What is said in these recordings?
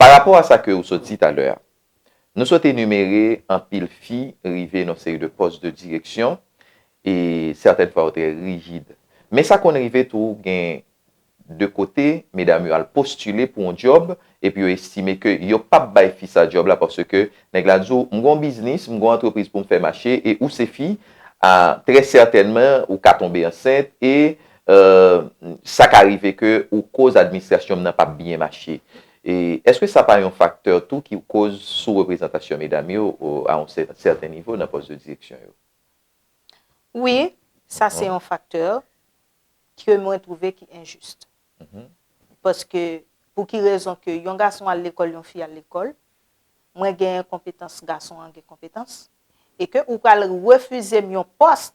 Pa rapò a sa ke ou sot di talè a, nou sot enumere anpil fi rive nan seri de pòs de direksyon e sètèn fwa yo trè rigid. Men sa konn rive tou gen de kote medam yo al postile pou yon djòb epi yo estime ke yo pap bay fi sa djòb la paske nèg la di w m gon biznis, m gon antrepriz pou m fè mache e ou se fi, a trè sètènman ou ka tonbe ansent e Uhmm sa ka rive ke ou koz administrasyon'm nan pap byen mache. E eske sa pa yon faktè tou ki koz sou reprezantasyon medam yo a yon sèten nivo nan pòs de direksyon yo? Wi, sa se yon faktè ke mwen twouve ki enjis. Paske pou ki rezon ke yon gason al lekòl yon fi al lekòl, mwen gen konpetans gason an gen konpetans e ke ou pral refize'm yon pòs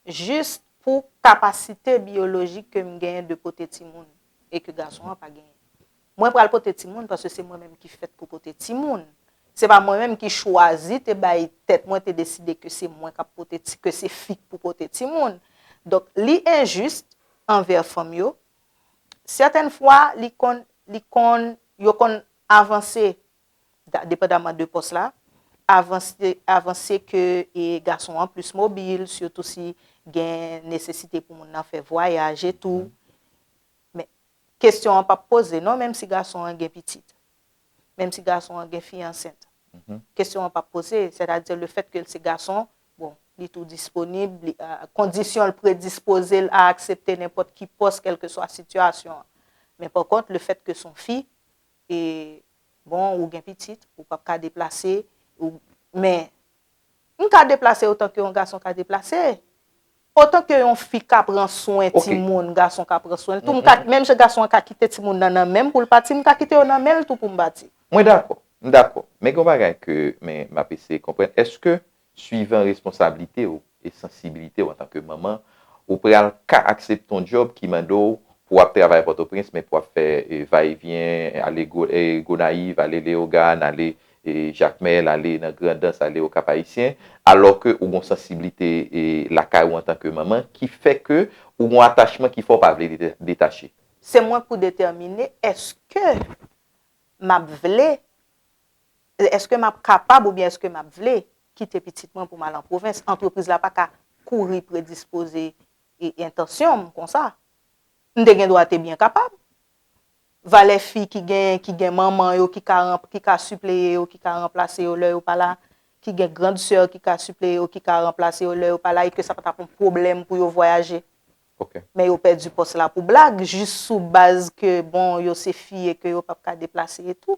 jis pou kapasite biyolojik ke m genyen de pote timoun e ke gason an pa genyen. Mwen pral pote timoun paske se mwen menm ki fèt pou pote timoun. Se pa mwen menm ki chwazi te bay tèt mwen te deside ke se mwen k ap pote ti, ke se fi k pou pote timoun. Donk, li enjis anvè fanm yo. Sètèn fwa, li konn, li konn, yo konn avanse depandaman de pòs la, avanse ke gason an plis mobil, sitou si gen nesesite pou moun nan fè vwayaj e tou. Men, kesyon an pap poze non menm si gason an gen pitit, menm si gason an gen fi ansent. Kesyon an pap poze, sètadi le fèt ke l se gason, bon, li tou disponib, kondisyon l predispoze l a aksepte nenpòt ki pòs kèlkeswa sitiyasyon an. Men pankont, le fèt ke s on fi, e bon ou gen pitit ou pap ka deplase ou men m ka deplase otan ke yon gason ka deplase otan ke yon fi ka pran swen ti moun gason ka pran swen tou m ka menm jan gason an ka kite ti moun nan nan menm pou l pati m ka kite yo nan menl tou pou m pati. Mwen dakò, m dakò men gen yon bagay ke men map eseye konprann eske Suivan responsablite w e sansibilite w antanke manman, ou pral ka aksepte yon djòb ki mande w pou w ap travay Pòtoprens men pou w ap fè va e vyen, ale Gonayiv, ale Leyogàn, ale Jakmèl, ale nan Grandans, ale Okap Ayisyen, alò ke ou gen yon sansiblite lakay ou antanke manman ki fè ke ou gen yon atachman ki fè w pa vle detache. Se mwen pou detèmine èske m ap vle Èske m ap kapab oubyen èske m ap vle kite pitit mwen pou m al an pwovens? Antrepriz la pa ka kouri predispoze entansyon m konsa. M te gendwa te byen kapab. Valè fi ki gen ki gen manman yo ki ka ranp ki ka sipleye yo ki ka ranplase yo lè yo pa la, ki gen grand sè ki ka sipleye yo ki ka ranplase yo lè yo pa la e ke sa pa t ap yon pwoblèm pou yo vwayaje. Men yo pèdi pòs la pou blag jis sou baz ke bon yo se fi e ke yo p ap ka deplase etou.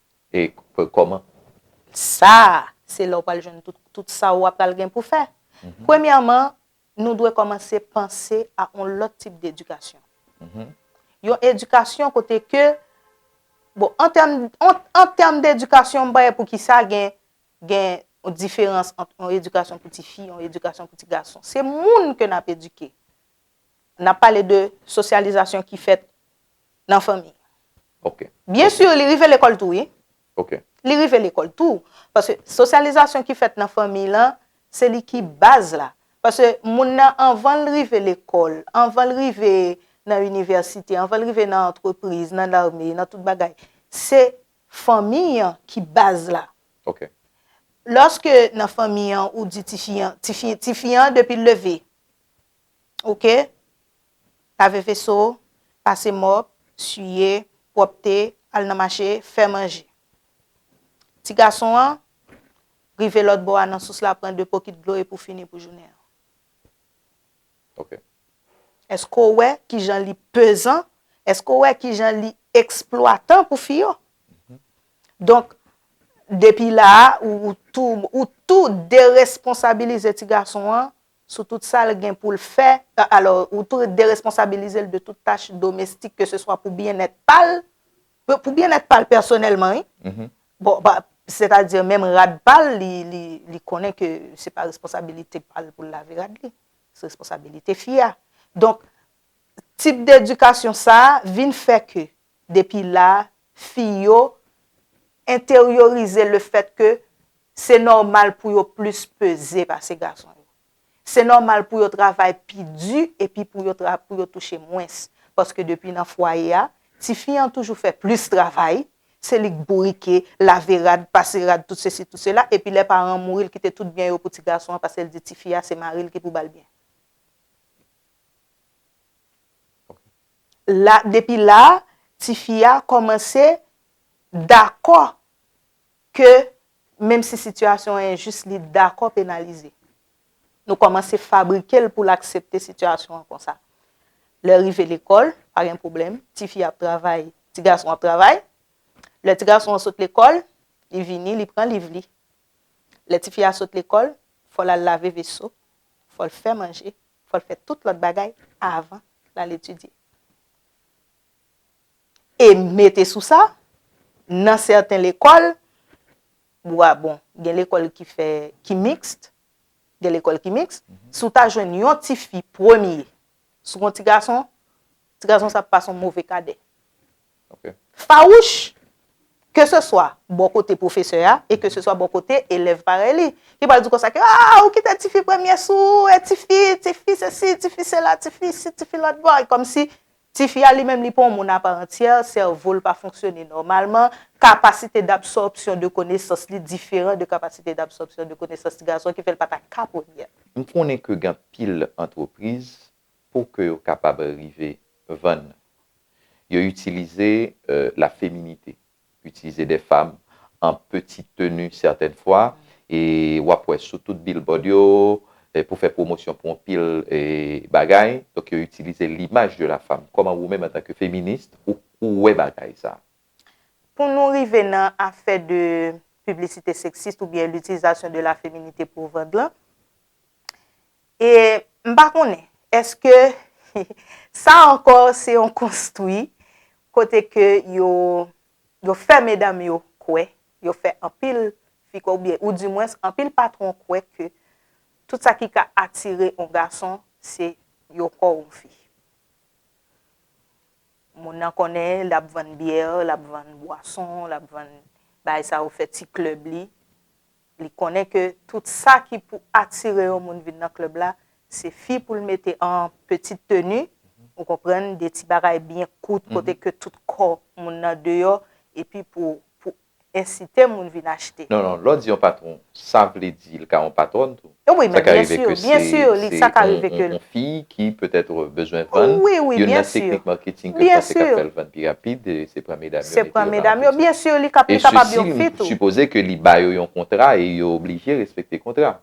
e kòman? Sa a, se lè ou pral jwenn tout sa ou apral gen pou fè. Premyèman, nou dwe kòmanse panse a yon lòt tip dedikasyon. Yon edikasyon kote ke, bon, an tèm dedikasyon, m pa wè poukisa gen yon diferans ant yon edikasyon pou ti fi, yon edikasyon pou ti gason. Se moun ke n ap edike. N ap pale de sosyalizasyon ki fèt nan fanmi. Ok. Byen sur li rive lekòl tou wi. Ok. Li rive lekòl tou. Paske sosyalizasyon ki fèt nan fanmi lan, se li ki baz la. Paske moun nan anvan l rive lekòl, anvan l rive nan inivèsite, anvan l rive nan antrepriz, nan lame, nan tout bagay, se fanmi an ki baz la. Ok. Lòske nan fanmi an ou di tifi an, tifi an depi l leve, Ok lave veso pase mop siye pwopte al nan mache fè manje ti gason an rive lot bo a nan sous la pran 2 pokit dlo epou fini pou jounen an ok eske w wè kijan li pezan eske w wè kijan li eksplwatan pou fi yo donk depi la ou tou ou tou deresponsabilize ti gason an sou tout sa l gen pou l fè, alò ou tou deresponsabilize l de tout tach domestik ke se swa pou byennèt pa l, pou byennèt pa l pèsonèlman wi, bon ba, sètadi menm rad pa l li konnen ke se pa responsabilite pa l pou l lave rad li, se responsabilite fi a. Donk, tip de edikasyon sa a vin fè ke Depi la, fi yo enteryorize le fèt ke se nòmal pou yo plis peze pase gason yo. Se nòmal pou yo travay pi di epi pou yo pou yo touche mwens. Paske depi nan fwaye a, tifi an toujou fè plis travay, se li k bourike, lave rad, pase rad, tout sesi tout sela, epi lè paran an mouri l kite tout byen yo pou ti gason an paske l di tifi a se mari l ki pou ba l byen. La, depi la a, ti fi a kòmanse dakò ke menm si sitiyasyon an enjis, li dakò penalize. Nou kòmanse fabrike l pou l aksepte sitiyasyon an konsa. Lè rive lekòl, pa gen pwoblèm, ti fi a ap travay, ti gason an ap travay. Lè ti gason an sot lekòl, li vini, li pran liv li. Lè ti fi a sot lekòl, fò l al lave veso, fò l fè manje, fò l fè tout lòt bagay avan l al etidye. E mete sou sa, nan sèten lekòl, wa bon, gen lekòl ki fè, ki mixte, gen lekòl ki mixte, si w ta jwenn yon ti fi premye sou yon ti gason, ti gason sa ap pa son move kadè. Fawouch, ke se swa bò kote pwofesè a e ke se swa bò kote elèv parèy li, ki pral di konsa ke, A! Ou kite tifi premye sou ou, e tifi, tifi sesi, tifi sela, tifi si, tifi lòt bò, e kòm si tifi a li menm li pa yon moun aparantyè, sèvo l pa fonksyone nòmalman, kapasite dabsòpsyon de konesans li diferan de kapasite dabsòpsyon de konesans ti gason ki fè l pa ta ka premye. M konnen ke gen anpil antrepriz pou ke yo kapab rive vann. Yo itilize la feminite, itilize de fam an peti teni sètèn fwa e w ap wè sou tout bilbòd yo pou fè pwomosyon pou anpil bagay, donk yo itilize limaj de la fam. Kòman ou menm antanke feminist ou wè bagay sa? Pou nou rive nan afè de piblisite seksist oubyen litilizasyon de la feminite pou vann lan, E m pa konnen, èske sa ankò se yon konstwi kote ke yo fè medam yo kwè, yo fè anpil fi kwè oubyen ou di mwens anpil patwon kwè ke tout sa ki ka atire yon gason se yon kò yon fi. Moun nan konnen l ap vann byè, l ap vann bwason, l ap vann bagay sa yo fè ti klèb li, Li konnen ke tout sa ki pou atire yon moun vin nan club la, se fi pou l mete an petite tenue, ou konprann, de ti bagay byen kout kote ke tout kò moun nan deyò, epi pou ensite moun vin achte. Non, non, lè w di yon patwon, sa vle di li ka yon patwòn tou? Wi, men byen sur, byen sur, sa ka rive ke l. Sa ka rive ke l. Yon fi ki petèt ou bezwen vann, youn nan teknik marketing ke panse kap fèl vann pi rapid se pran medam yo mete yo nan marketing. E sesi m sipoze ke li ba yo yon kontra e yo oblije respekte kontra.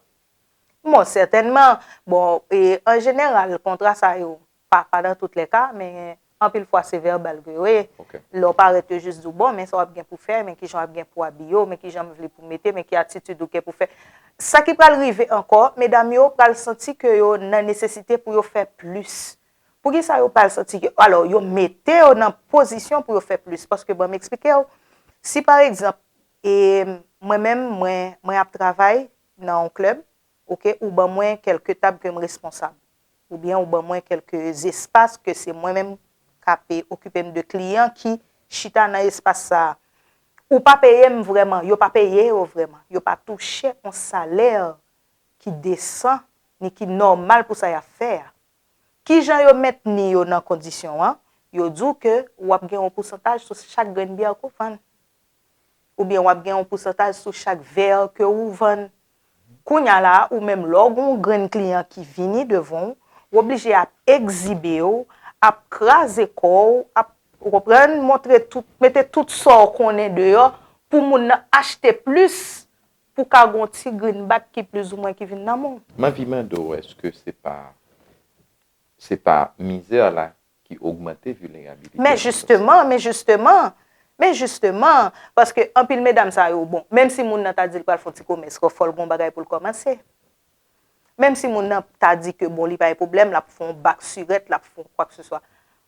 Bon, sètènman, bon, e an jeneral kontra sa yo, pa nan tout le ka, men Anpil fwa se vèbal ke yo ye. Lè w parèt yo jis di w bon men sa w ap gen pou fè, men kijan w ap gen pou abiye w, men kijan m vle pou mete, men ki atitid ou gen pou fè. Sa ki pral rive ankò, medam yo pral santi ke yo nan nesesite pou yo fè plis. Poukisa yo pral santi ke, alò yo mete yo nan pozisyon pou yo fè plis. Paske ban m eksplike w, si pa egzanp, e mwen menm mwen ap travay nan yon klèb, ok ou ban mwen kelke tab ke m responsab ou byen ou ban mwen kelke zespas ke se mwen menm kap okipe m de kliyan ki chita nan espas sa a ou pa peye m vreman yo pa peye yo vreman yo pa touche yon salè ki desan ni ki nòmal pou sa yap fè a kijan yo mentni yo nan kondisyon an yo di w ke wap gen yon pousantaj sou chak grenn byè ke w vann. ou byen wap gen yon pousantaj sou chak vèr ke ou vann. Kounya la a, ou menm lè w gen yon grenn kliyan ki vini devan w, w oblije ap ekzibe w, ap kraze kò w, ap, ou konprann, montre tout, mete tout sa w konnen deyò pou moun nan achte plis pou ka gen yon ti grinbak ki plizoumwen ki vin nan men w. M anvi mande w eske se pa, se pa mizè la ki ogmante vilerabilite nan lanmou sèks la. Men jisteman, men jisteman, men jisteman, paske anpil medam sa yo, bon, menm si moun nan ta di l pral fè yon ti komès, fò fò l gen yon bagay pou l kòmanse. Menm si moun nan ta di ke bon li pa gen pwoblèm, l ap fè yon bak sirèt, l ap fè yon kwakseswa,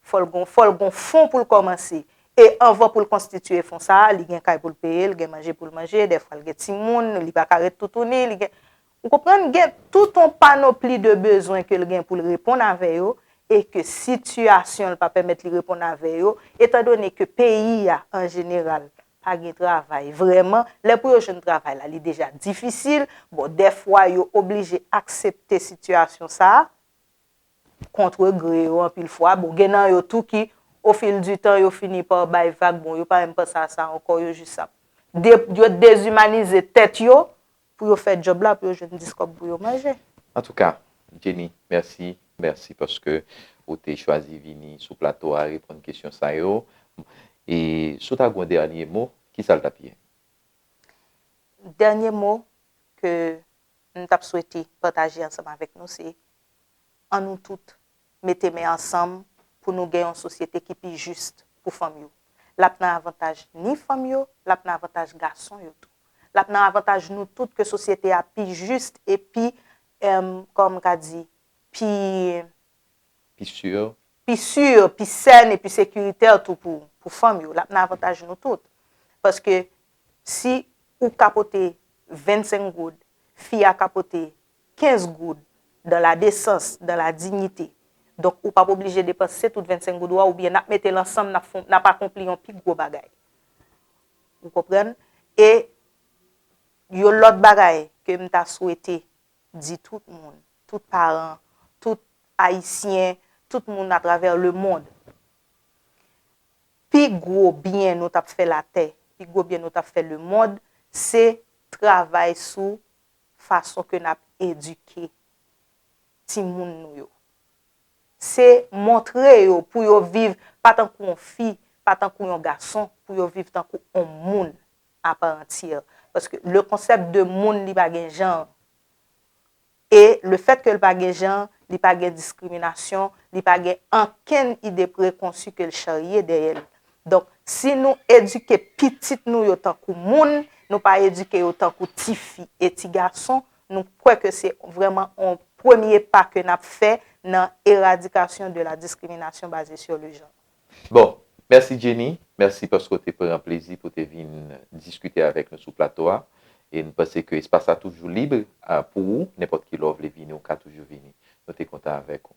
fò l gen, fò l gen yon fon pou l kòmanse. E anvan pou l konstitiye fon sa a, li gen kay pou l peye, li gen manje pou l manje, dèfwa l gen timoun, li pa ka ret toutouni, li gen, Ou konprann gen tout on panopli de bezwen ke l gen pou l reponn avè yo e ke sitiyasyon l pa pèmèt li reponn avè yo, etan done ke peyi a an jeneral pa gen travay vrèman, lè pou yo jwenn travay la li deja difisil, bon dèfwa yo oblije aksepte sitiyasyon sa a, kontre gre yo anpil fwa, bon gen nan yo tou ki o fil di tan yo fini pa bay vag bon yo pa menm panse a sa ankò yo jis ap, yo dezimanize tèt yo Pou yo fè job la pou yo jwenn 10 kòb pou yo manje. Antouka Jenny mèsi mèsi paske ou te chwazi vini sou plato a reponn kesyon sa yo e si w ta gen yon dènye mo kisa l t ap ye? Dènye mo ke m t ap swete pataje ansanm avèk nou se an nou tout mete men ansanm pou nou gen yon sosyete ki pi jis pou fanm yo. L ap nan avantaj ni fanm yo, l ap nan avantaj gason yo tou. L ap nan avantaj nou tout ke sosyete a pi jis e pi, kòman m ka di, pi. Pi sur. Pi sur, pi sèn e pi sekiritè tou pou fanm yo. L ap nan avantaj nou tout. Paske si ou ka pote 25 goud, fi a ka pote 15 goud, dans la desans, dans la dignite. Donk ou pap oblije depanse tout 25 goud ou a oubyen nap mete l ansanm nap fon nap akonpli yon pi gwo bagay. Ou konprann? E yon lòt bagay ke m ta swete di tout moun, tout paran, tout Ayisyen, tout moun atravè lemond. Pi gwo byen nou tap fè latè, pi gwo byen nou tap fè lemond se travay sou fason ke nap edike timoun nou yo. Se montre yo pou yo viv pa tankou yon fi, pa tankou yon gason, pou yo viv tankou yon moun a part entière. Paske le concept de moun li pa gen janr. E le fèt ke li pa gen janr, li pa gen diskriminasyon, li pa gen ankenn ide prekonsi ke li charye dèyè li. Donk, si nou edike pitit nou yo tankou moun, nou pa edike yo tankou ti fi e ti gason, nou kwè ke se vrèman yon premye pa ke n ap fè nan eradikasyon de la diskriminasyon baze sur le genre. Bon, mèsi Jenny, mèsi paske w te pran plezi pou w te vin diskite avèk nou sou plato a. E m panse ke espas la toujou lib pou ou, nenpòt ki lè w vle vini ou ka toujou vini. Nou te kontan avèk ou.